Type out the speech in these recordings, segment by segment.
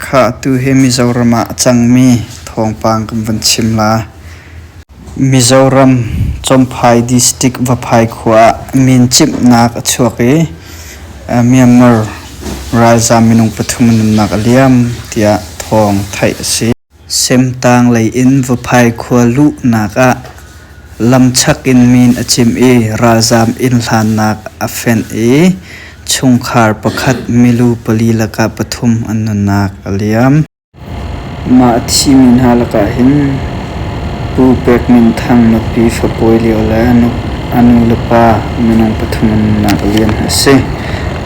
Khah, tuhi Mizoram ah a cangmi thawngpang kan van chim la. Mizoram Chawmphai District Vaphai khua ah min chimhnak a chuak i Myanmar ralzaam minung pathum an umnak a liam tiah thawng theih a si. Semtang lei in Vaphai khua luhnak ah lamchak in min a cim i ralzaam inn hlannak a fenh i chungkhar pakhat milu pali lakah pathum an nunnak a liam. Mah a thimi hna lakah hin Pu Pek Min Thang nupi fapawi lio le a nu le pa minung pathum an nunnak liam hi a si.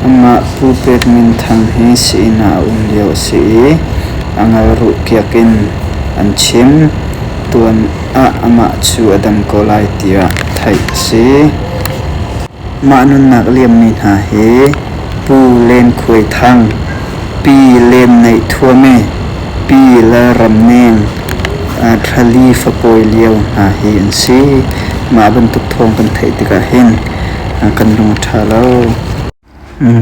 Amah Pu Pet Min Thang hi sii-inn ah a um lio a si i a ngalruh kiak in an chim. Tuan ah amah cu a dam ko lai tiah theih a si. Mah nunnak liammi hna hi Pu Len Khuai Thang, Pi Lem Neih Thuame, Pi Lal Ram Neng, Rali Fapawi Lio hna hi an si. Mah bantuk thawng kan theih tikah hin kan lung a ṭha lo.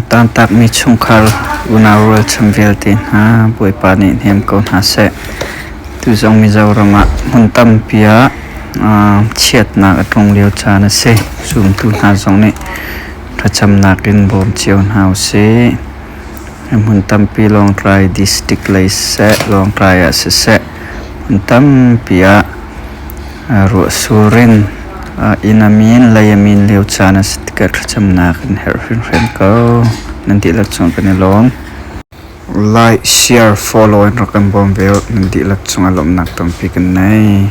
Tantakmi chungkhar unau rualchan vialte hna Bawipa nih hnem ko hna seh. Tu zong Mizoram ah hmun tampi ah chiatnak a tlung lio caan a si. Zumtu hna zong nih thlacamnak in bawm cio hna u sih. Hmun tampi Lawngtlai district lei siseh, Lawngtlai ah siseh, hmun tampi ah ruahsur in inn a min lei a min lio caan a si tikah thlacamnak kan herh hrimhrim ko. Nan dihlak cung kan i lawm. Like, share, follow in rak kan bawm ve u. Nan dihlak cung a lawmhnak tampi kan nei.